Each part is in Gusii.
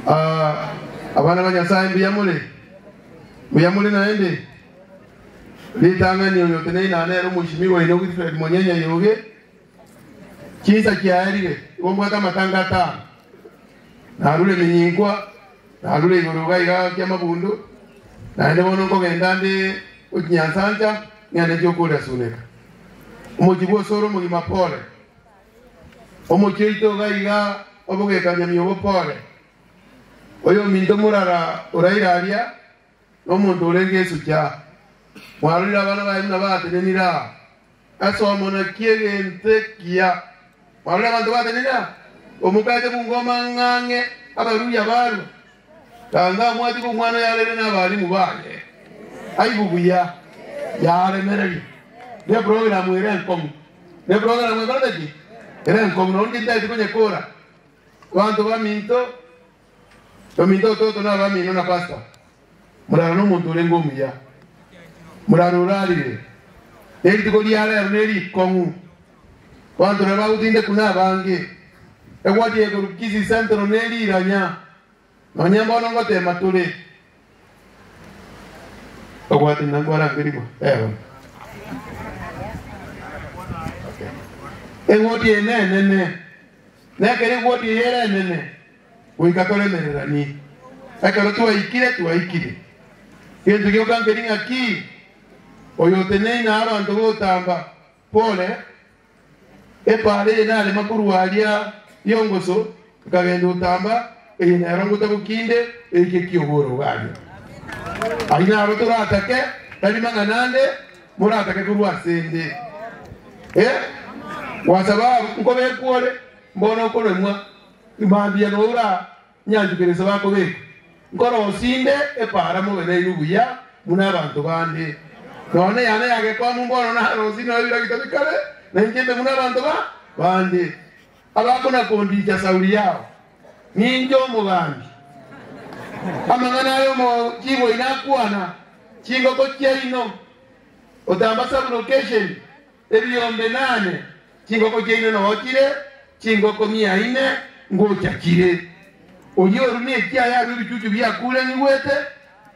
Aa, abana ba Nyasae mbuya more? Mbuya more naende? Ritang'ani oyo tenei na nere omoisimigwa oino Wilfred Monyenya Yoge. Chinsa chiaerire, igo mbwate amatanga atano. Narure eminyinkwa, narure igoro iga iga ki'amabundu, naende bono nkogenda nde gochinyansancha ng'ende nchie okoresuneka. Omochie bw'osore omogima pole. Omochie oito iga iga obogekanyamia obokore, oyominto morara oraire aria nomonto orenge esucha. Mwarorire abana baye buna batenenire aa ase omona ki'egento ekiya? Mwarorire abanto batenenire aa? Omokache bungo omang'ang'e abaruria barua. Tanga amwatiga omwana oyarerire nabalimu baye. Aigwe buya. Yaremereria. Neprogaramu ere enkomu. Neprogaramu ekorete ki? Ere enkomu. Nonya ninki ntagete konya kora. Abanto baminto, baminto ototo nabamino na pastor. Murara nomonto orenge omuya. Murara orarire. Nerituko riarero neri ikong'u. Banto na bagotinde kune abange, egwati ye Corpus Christi Central ne riranya, nonya mbono ngoteema tore. Ogwate na nkwarangerigwa eono. Egwoti eye nenene, na ekero egwoti eye ere enene, goika toremereranie. Ekero twaikire, twaikire. Gento gioka nkeri ng'aki? Oyoteneine abanto b'otamba, Pole, epaara eye narema korwa aria y'ongoso, nkagenda otamba, eye nero ngotabu kinde eike ki'oboro bwaye. Aria naro toratake, tari mang'ana ande moratake korwa ase 'nde. E, gwasaba nkobe ekwore, mbono okoremwa, mambia noura. Nyanchwa kera esaba akobekwa. Nkoroosia inde epaara mobe nainwe buya buna abanto bande. Nonya neyane ya gekwaamu mbono naroosie noyo bira gitabe kare, na inche mbe buna abanto ba bande. Abakona kondiicha sauri yao, ninche omogambi. Amang'ana aye omo chiboi nakwana chingoko chiaino, otamba sabulocation. Ebiombe inane, chingoko chiaino nao chire chingoko mia ine ngocha chire. Oria orure ekiaya arue ebichuchu biakuuranigwete.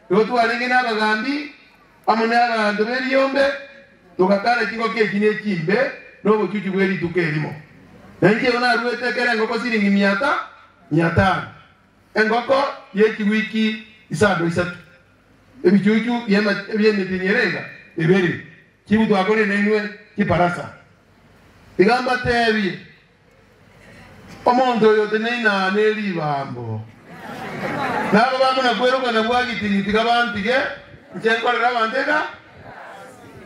Nabo twarenge nabagambi amo nabaanto b'ebiombe, togakana chingoko echi nechimbe nobochuchu bwe rituko erimo. Na inche igo naruete kera engoko siringi mia ta mia tano, engoko yechigwiki isando isato, ebichuchu bi'emetinyerega ebere. Chibutwa akorie nainwe chibarasa, Iga mbateebie, omonto oyote naina ne ribaambo, na ababe amo na kwerokana gwa gitini, tiga bantige, inche nkorere abanto egarasi.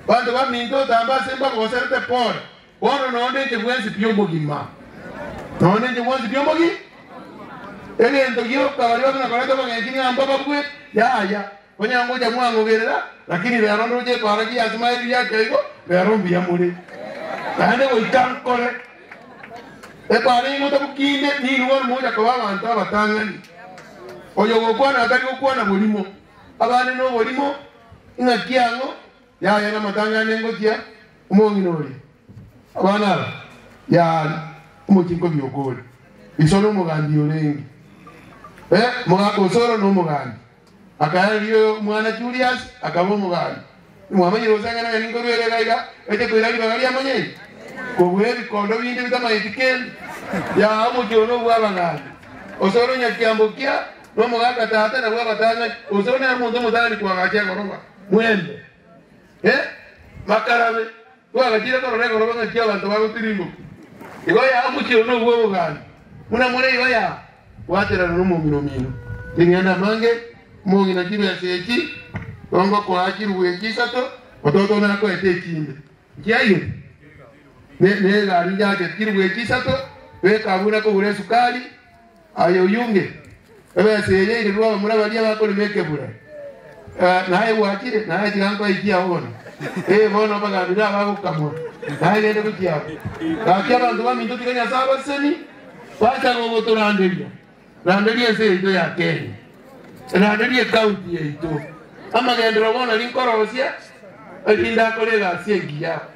Abanto baminto otambe ase embago baserete pore, bono noonde inche bwensi pi obogima, noonde inche bwensi pi obogima. Egento gioka baria babe nakoreta obogechini amba babue, yaya. Onye ngocha mwangogerera, lakini rero ndoche koaragia ase maerio ya chiaigo, rero mbuya more. Naende goika nkore ekware ime otabukinde, ninwe ore mogocha koba abanto abatang'ani. Oyogokwana atari gokwana borimo, abande noborimo, ing'aki ang'o yaya namatang'ani engochia omong'ina oria? Abana aba yaari omochiko biokori, iso nomogambi orenge, eh, omogaka osoro nomogambi. Akairaria omwana Juliasi, akaba omogani. Nimwamanyire gose ng'a nang'ani nkorwa ere egaiga eche koira ribaga ri'amanyinga, kobua ebikondo binde bitamanyeti kende. Yaa omochie one obw'abagani, ose ore onyakiambo kia nomogaaka tata na bw'abatang'ani, ose one amonto omotang'ani koagacha egoroba. Mwende, ee, makarabe. Twagachire korora igoro bang'e chi'abanto bagotirimbokia. Igo yao mochie one obw'obogania, buna more igo ya gwaterana nomomura omiino. Ring'ana amange, omong'ina chibesa echi, tongokoa chirubu echi isato, ototo nakoete echinde. Chiayio ne, ne egari njake chirubu echi isato, beka abwo nakogura esukari, Aye oyunge ebesa eye yairirwe abamura baria bakorema ekebura, naye gwachire, naye tiga nkoikie ao bono. Ee, bono abagaambi nabo bagokamwa, naye gende gochia abo. Gaki abanto baminto tiga Nyasae abaseseni, bacha gogotoranderia. Randeria ense yaito ya Kenya. Randeria ecounty yaito. Amagenderero bono rinkorosia, erinde akore egasi engiya.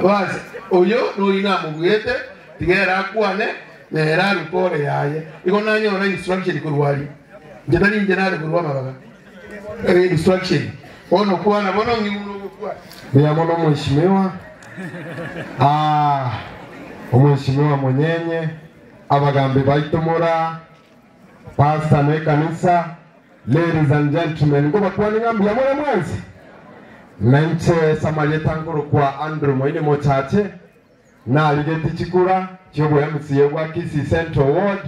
Boazi, oyio noyio namobuete, tiga ere akwane, na ere arute ore yaye. Igo nanyora instruction korwa aria, inche tari inche nare korwa amabaga, eh, instruction, bono kwana bono ng'igwe buna ogokwana. Mbuya mono mweshimiwa. Ah, omweshimiwa monyenye, abagambi baito mora. Pastor ne ekanisa, ladies and gentlemen, nkobakuani ng'a mbuya more mwensi. Nainche ase amarieta nkorokwa Andrew Moini Mochache, narigeti chikura chi'oboMCA bwa Kisii Central Ward.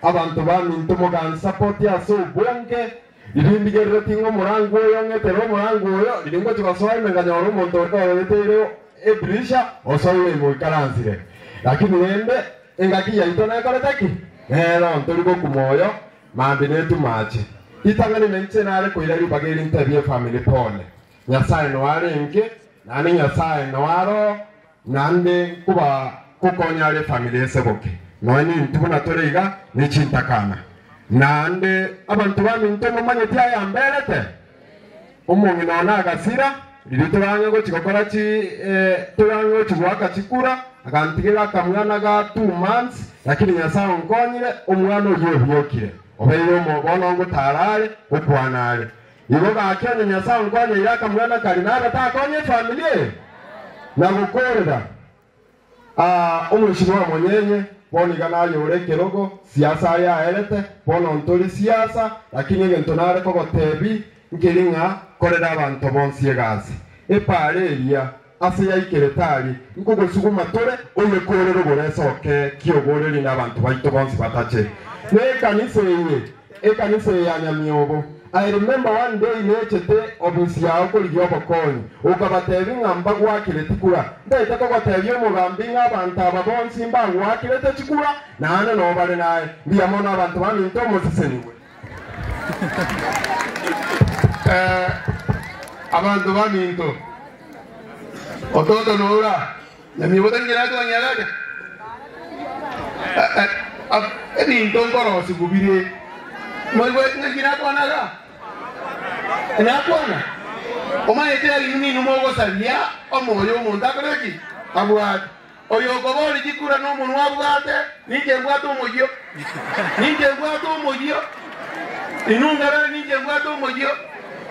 Abanto baminto mogansapoti ase obonge, riria ndigerereti ng'a omorango oyo ong'etere omorango oyo, riria ngochi gosoa ime nkanyora omonto ore oyeteire edirisha, osoire ime oikaransire. Lakini rende, Engaki yaito nekorete ki? Reero ntori gokuma oyo, maambia netuma ache. Ritang'ani nainche nare koira ribaga eri ntebie efamili pole. Nyasae noarenge, naende Nyasae noaroho, naende nkoba gokonya are efamili ese boke. Nonya ninto buna tore iga, ne chintakana. Naende abanto baminto momanyeti ayamberete? Omong'ina one agasira, riria torange gochi gokora chi eh, torange gochi goaka chikura, agantigera akamwana ga two months, lakini Nyasaye onkonyire, omwana oyio obiokire, obeire omo bono ngotaara are, gokwana are. Igo gaki onye Nyasaye onkonyeire akamwana karia, nabe takonye efamili eye? Na gokoorera. Aa, omorisia bw'amonyenye bono iga naye ore ekerogo, siasa aye aerete, bono ntori siasa, lakini egento nare kogotebi nkeri ng'a korera abanto bonsi egasi. Epaara eria ase yaikire tari nkogosuguma tore oye korera oboreso oke ki oboreri n'abanto baito bonsi batache nekanisa eye. Ekanisa eye ya Nyamiobo, I remember one day nechete office yao korigia obokonyi, okabatebia ng'a mbagwakire tikura. Ntaete kogotebia omogambi ng'a abanto aba bonsi mbagwakirete chikura, naende noo bare naye. Mbuya mono abanto baminto mosisenigwe. Abanto baminto, ototo noura? Namibosa ngire ase onyarage, ebinto nkorosiwu bire moigweti ng'a tinakwana ga? Tinakwana? Omanyete erinde ninwe mogosaria omoyo omonto akore ki? Abwate. Oyokobori chikura nomonwa abwate, ninche mbwate omoyio. Ninche mbwate omoyio. Inwe nkarore ninche mbwate omoyio.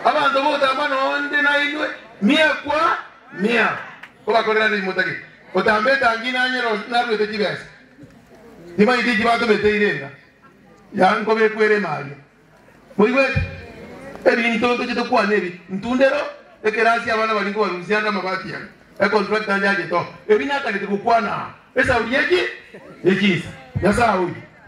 Abanto b'ogotamba nonde nainwe, mia kwa mia. Kobakorera nigo motagete gotamba etangi na nyero onsi naruete chibesa. Timanyeti inki batomete irenga yao nkobekwa ere ime aria. Moigweti? Ebinto ntochete kwana ebi, ntundero, ekerasi abana bari nkobarusia ande amabati aya, econtractor anchachete oo, ebi natagete gokwana aa, esauri ye chi, ye chinsa. Nyasae oye.